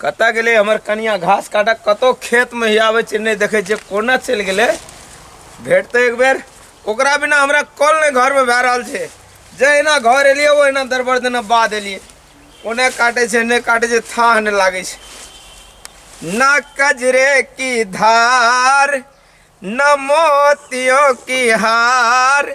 कतऽ गेलै हमर कनिया घास काटऽ कतौ खेतमे ही आबै छै नहि देखै छियै कोना चलि गेलै भेटतै एक बेर ओकरा बिना हमरा कॉल नहि घरमे भए रहल छै जहिना घर एलियै ओहिना दरबर देना बाद एलियै ओने काटै छै नहि काटै छै थाह नहि लागै छै न कजरे की धार न मोतियों की हार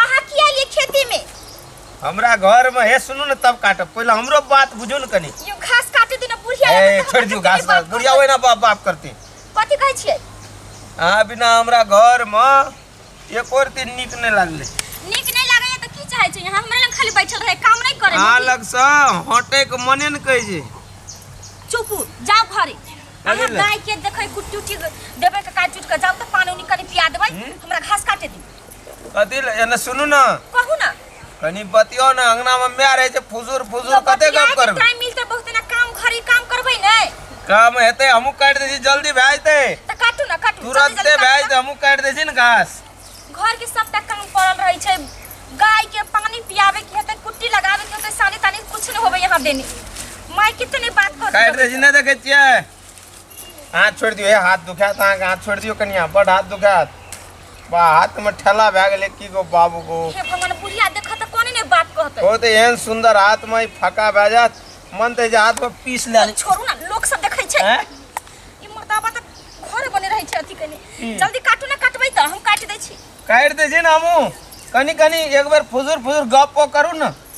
अहाँ की आलिए खेती में हमरा घर में हे सुनू ने तब काटब पहले हमरो बात बुझू ने कनी यो घास काटे दिन बुढ़िया ए लगे तो छोड़ हमरा दियो कते घास बात बात बुढ़िया ओहिना बाप बाप करती करब। कथी कहै छियै अहाँ बिना हमरा घर में एक और दिन नीक नहीं लागले नीक नहीं लागैए तऽ की चाहै छी अहाँ हमरा लग खाली बैठल रहे काम नहीं करे अहाँ लग से हटे के मने ने कहै छै चुप जाओ घरे अहाँ अरे ले। गाय के देखै कुट्टी उट्टी देबै के काट चुट के जाओ तऽ पानी उनी कनी पिया देबै हमरा घास काटे दी कथी ले एने सुनू ना कहू ना कनी बतियो ना अंगना में मैं रहे छे फुजुर फुजुर कते गप करबे टाइम मिलते बहुत ना काम घरी काम करबै नै काम हेते हमहु काट देसी जल्दी भेज दे त काटू ना काटू तुरंत से भेज दे हमहु काट देसी न घास घर के सबटा काम पड़ल रहै छै गाय के पानी पियावे के हेते कुट्टी लगावे के हेते सानी तानी कुछ न होबे यहां देनी माय कितने बात कर काट देसी ना देखे छिए हाथ छोड़ दियो हाथ दुखात अहाँ के हाथ छोड़ दियो कनिया बड हाथ दुखात बा हाथ में ठेला भए गेलै की गो बाबू गो हे भगवान बुढ़िया देखा त कोने ने बात कहते ओ तऽ एहन सुंदर हाथ में ई फका भए जात मन तऽ जे हाथ में पीस ले ले छोड़ू ना लोग सब देखै छै हैं? ई मर्दाबा त घर बने रहै छै अथी कने हम्म। जल्दी काटू ना काटबै त हम काटि दै छी काटि दै छी ने हमहूँ कनि कनि एक बेर फुजुर फुजुर गप करू ने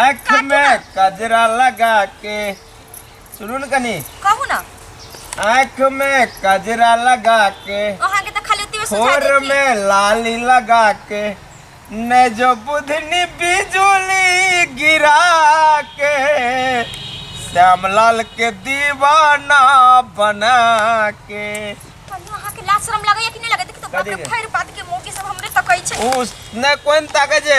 आँख में कजरा लगा के सुनू न कनी कहू ना आँख में कजरा लगा के अहाँ के तो खाली ओतबे सुझाव खोर देती में लाली लगा के ने जो बुधनी बिजुली गिरा के श्यामलाल के दीवाना बना के कहियो अहाँ के लाज शरम लगैया कि नहीं लगैत कि तो बाप रे कथी के? खैर बात के मुंह के सब हमरे तकै छै उसने कोन ताके जे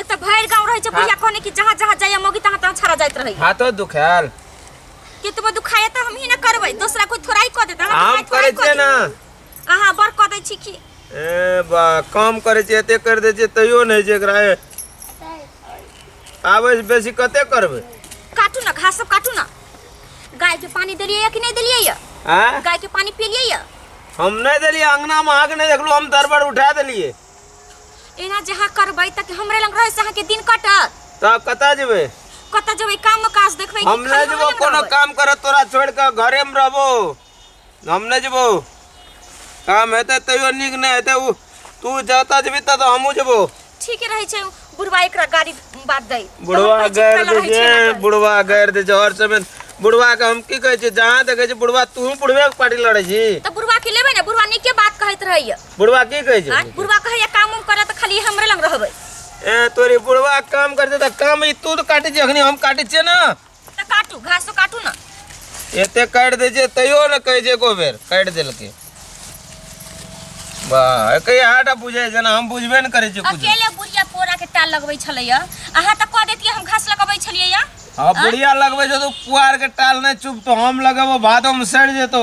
एक तो भैर गांव रहे छे भैया कहने कि जहां जहां जाइए मोगी तहां तहां छरा जाइत रही हाथो दुखायल केतबो दुखाए त हम ही न करबै दूसरा कोई थोड़ा ही क देता हम करे छे ना अहां बर क दै छी की ए बा काम करे छे एते कर दे छे तैयो नै जे एकरा आबै बेसी कते करबै काटू ना घास सब काटू ना गाय के पानी देलिए या कि नहीं देलिए या हां गाय के पानी पीलिए या हम नहीं देलिए अंगना में आग नहीं देखलो हम दरबड़ उठा देलिए एना जहाँ करबै तऽ हमरे लग रहै से अहाँके दिन कटत तब कतऽ जेबै कतऽ जेबै काम काज देखबै कि हम खाली नहि जेबो हमरे लग कोनो रहबै? काम करत तोरा छोड़ कऽ घरे में रहबो हम नहि जेबो काम हेतै तैयो नीक नहि हेतै उ तू जतऽ जेबी ततऽ हमहूँ जेबो ठीके रहै छै बुढ़वा एकरा गाड़ी बात दै बुढ़वा तहन कहै छै, गैर पहिला दे रहै छै जे एना करै। बुढ़वा गैर दे जे और समय बुढ़वा के हम की कहै छी जहाँ देखै छी बुढ़वा तू बुढ़वे के पार्टी लड़ै छी तऽ बुढ़वा के लेबै ने बुढ़वा नीके बात कहैत रहैया बुढ़वा की कहै छै आँय, बुढ़वा कहैया काम उम करऽ तऽ खाली हमरे लग रहबै ए तोरी बुढ़वा काम करते तऽ काम ई तू तऽ काटै छै अखनी हम काटै छियै ने तऽ काटू घास तो काटू ने एते काटि दै छै तैयो ने कहै छै एको बेर काटि देलकै वाह एकै हाटा बुझै छै ने हम बुझबे ने करै छियै कुछ अकेले बुढ़िया पोरा के टाल लगबै छलैया अहाँ तऽ कह देतियै हम घास लगबै छलियै या आ बुढ़िया लगबै छै तऽ पुआर के टाल नहि चुप तो हम लगेबो भादो में सड़ि जेतौ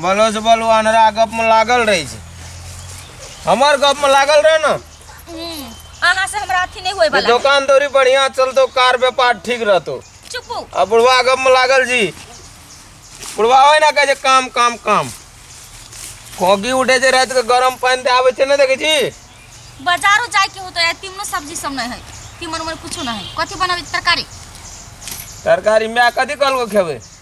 मनोज बलू अनरा गपमे लागल रहै छै हमर गपमे लागल रहे ने हम्म, अहाँ से हमरा अथी नहीं हुए वाला है। दोकान दौरी बढ़िया चलतो कार व्यापार ठीक रहतो चुपू आ बुढ़वा गपमे लागल जी बुढ़वा ओहि ना कहै छै काम काम काम खोगी उठे छै रातिके गरम पानि दे आबै छै ने देखै छी बाजारो जाए के होते है तीमनो सब्जी सब नहीं है तीमन उमन कुछ नहीं है कथी बनाबे तरकारी तरकारी माय कथी कहलको खेबै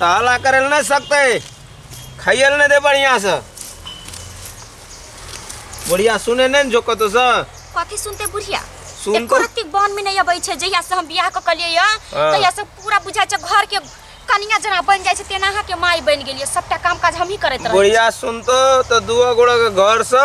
तऽ हल्ला करै लए नहि सकतै खाइए लए नहि दे बढ़िआँसँ बुढ़िया सुने नहि ने जो कतहुसँ कथी सुनते बुढ़िया सुन एको तऽ- रत्ती बन में नहीं अबै छै जहिया से हम बियाह क कलिए या हाँ। तहिया से पूरा बुझाय छै घर के कनिया जना बन जाय छै तेना अहाँ के माई बन गेलिए सबटा काम काज हम ही करैत रही बुढ़िया सुनतो तऽ दुओ गोड़ो के घरसँ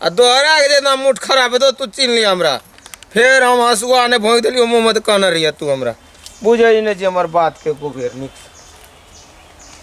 आ दोहरा के देना मूड खराब हेतो तू चिन्ह लिया हमरा फेर हम हंसुआ ने भोंक देलियो मुंह में तो कहने रहिए तू हमरा बुझे ही नहीं छी हमर बात के को फेर निक